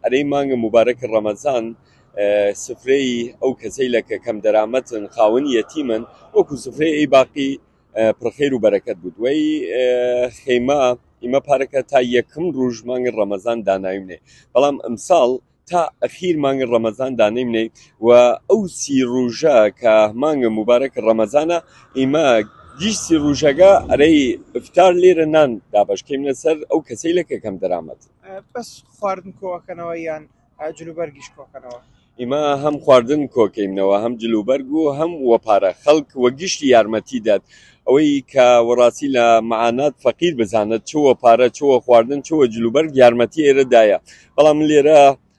ئەرێی مانگە موبارەکی ڕەمەزان سفرەی ئەو کەسەیلە کە کەم دەرامەتن خاون یەتیمن وەکو سفرەی ئەی باقی پرخیر و بەرەکەت بود وەی خێمە ئیمە پارەکە تا یەکم ڕوژ مانگە ڕەمەزان داناوینێ بەڵام ئەمساڵ تا ئەخیر مانگە ڕەمەزان دانیمنێ و ئەو سی ڕوژە کە مانگە مبارەک ڕەمەزانە ئیمە گیشتی ڕوژەگە ئەرەی ئفتار لێرە نان دابشکەین لەسەر ئەو کەسەی لەکە کەم دەرامەت بەس خواردن کۆکەنەوە یان جلوبەرگیش کۆکەنەوە ئیمە هەم خواردن کۆکەینەوە هەم جلوبەرگ و هەم وە پارە خەڵک وە گشتی یارمەتی دات ئەوەی کە وەڕاستی لە معانات فەقیر بزانێت چوە پارە چوە خواردن چوە جلوبەرگ یارمەتی ئێرەدایە بەڵام لێرە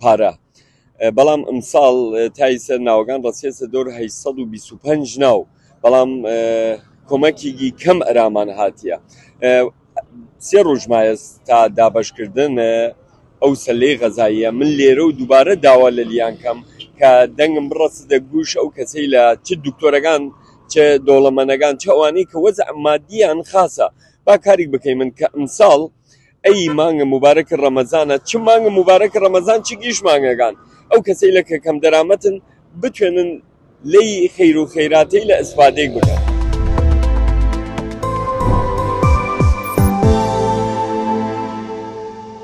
پارە بەڵام ئمساڵ تای سەر ناوەکان ڕسیێسە دۆر 825 ناو بەڵام کۆمەکیگی کەم ئەرامان هاتیە سێ ڕژمایە تا دابشکردن ئەو سەلەی غەزاییە من لێرە و دووبارە داوا لە لیان کەم کە دەنگم بڕست دە گوش ئەو کەسەی لە چ دکتۆرەکان چ دۆڵەمەنەکان چوانی کە وەز مادیان خاصە با کاریک بکەی من کە ئمساڵ ئەی مانگە موبارەکی ڕەمەزانە چ مانگە موبارەکی ڕەمەزان چ گیش مانگەکان ئەو کەسەی لە کەکەم دەرامەتن بتوێنن لەی خیر و خیراتەی لە ئسفادەی بکەن.